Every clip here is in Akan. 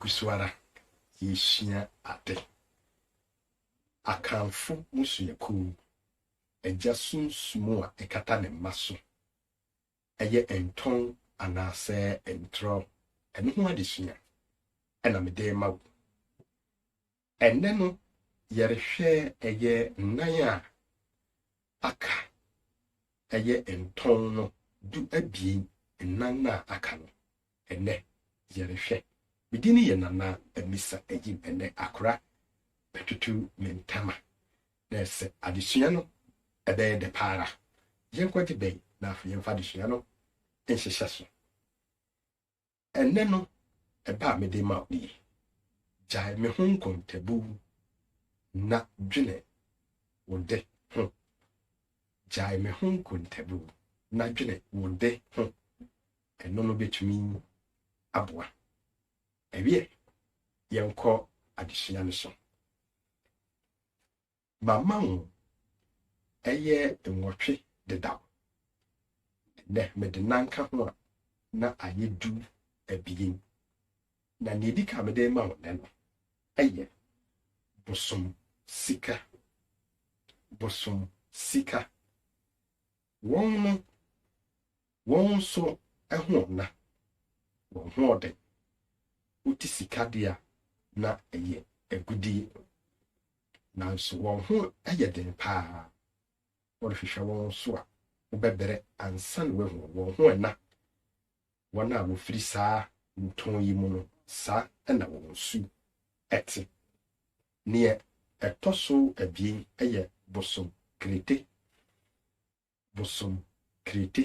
Gu so ara, yɛresua ade. Akanfo mmusuakuw, Agya sunsum a ɛkata ne mma so, ɛyɛ ntɔn anaasɛ ntorɔ, ɛno ho adesua na mede rema wo. Ɛnnɛ no yɛrehwɛ ɛyɛ nnan a aka, ɛyɛ ntɔn no du abien nnan no a aka no ɛnnɛ yɛrehwɛ. Me din yɛ Nana Amisa Ayim ɛnnɛ akora bɛtoto me ntama na ɛsɛ adesua no ɛbɛyɛ dɛ pa ara. Yɛnkɔgye bɛn na afei yɛmfa adesua no nhyehyɛ so. Ɛnnɛ no, ɛbɛ a mede rema wo nie, Gyae me ho nkontabu na dwene wo de ho. Gyae me ho nkontabu na dwene wo de ho. Ɛno no bɛtumi aboa. Ɛwiɛ, yɛnkɔ adesua no so. Mama wo ɛyɛ nwɔtwe dedaw. Ɛnnɛ mede nan ka ho a, na ayɛ du abien. Na nea edi kan a mede rema wo nnɛ no yɛ bosom sika. Bosom sika. Wɔn no, wɔn nso ho na wɔn ho ɔden, wote sika de a, na ɛyɛ agudeɛ. Nanso wɔn ho yɛ den paa, worehwehwɛ wɔn so a, wobɛbrɛ ansa na woahu wɔn ho na Wɔn a wɔfiri saa ntɔn yi mu no, saa na wɔn su te. Deɛ ɛtɔ so abien yɛ bosom Krete. Bosom Krete.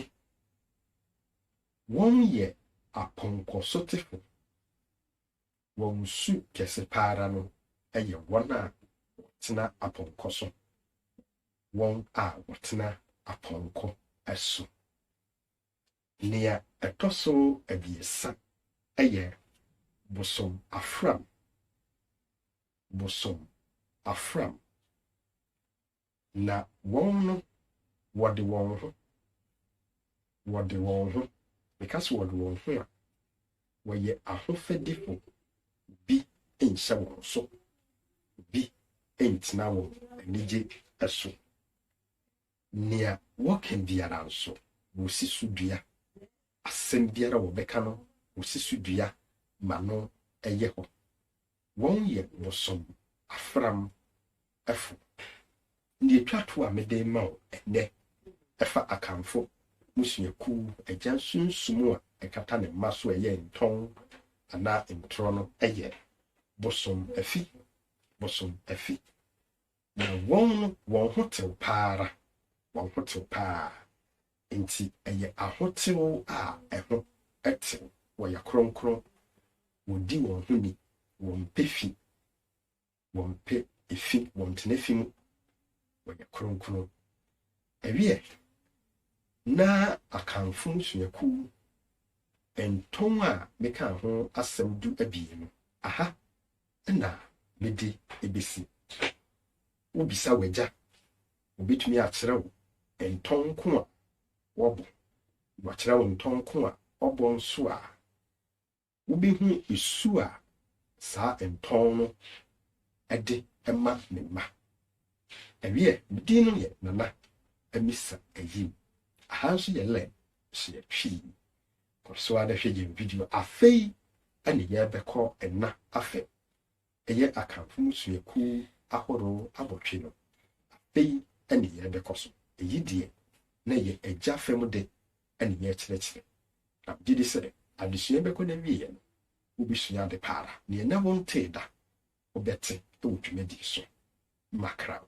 Wɔyɛ apɔnkɔsotefo. Wɔn su kɛse pa ara no yɛ wɔn a wɔtena apɔnkɔ so, wɔn a wɔtena apɔnkɔ so. Nea ɛtɔ so abiɛsa yɛ bosom afram, bosom afram, na wɔn no, wɔde wɔn ho, wɔde wɔn ho, meka sɛ wɔde wɔn ho a, wɔyɛ ahofadifo, bi nhyɛ wɔn so, bi ntena wɔn anigye so. Nea wɔka biara nso, wosi so dua. Asɛm biara a wɔbɛka no, wosi so dua ma no yɛ hɔ. Wɔyɛ bosom afram fo. Nea etwa to a mede rema wo nnɛ, ɛfa Akanfo mmusuakuw agya sunsum a ɛkata ne mma so a ɛyɛ ntɔn anaa ntorɔ no. Ɛyɛ bosom afi. Bosom afi. Na wɔn no, wɔn ho tew pa ara, wɔn ho tew paa. Enti ɛyɛ ahotew a ɛho tew, wɔyɛ kronkron, wodi wɔn ho ni, wɔmpɛ fi, wɔmpɛ efi, wɔntena fi mu, wɔyɛ kronkron. Ɛwiɛ, na Akanfo mmusuakuw ntɔn a mekaa ho asɛm du abien no, aha na mede besi? Wubisa w'agya, obetumi akyerɛ wo ntɔn ko a wɔbɔ. Wakyerɛ wo ntɔn ko a ɔbɔ nso a, wubehu su a saa ntɔn no de ma ne mma. Wiɛ, me din no yɛ Nana Amisa Ayim. Aha nso yɛ Len Hyeɛ Twii. Kɔ so ara hwɛ yɛn video. Afei ne yɛrebɛkɔ nna afɛ. Ɛyɛ Akanfo mmusuakuw ahorow abotwe no. Afei ne yɛrebɛkɔ so. Eyi deɛ, na ɛyɛ agya fam de ne yɛrekyerɛkyerɛ. Na megye di sɛ adesua yi bɛkɔ n'awieeɛ no, wobɛsua ade pa ara. Nea ɛnnɛ wontee da, wobɛte wɔ dwumadi so. Makra wo.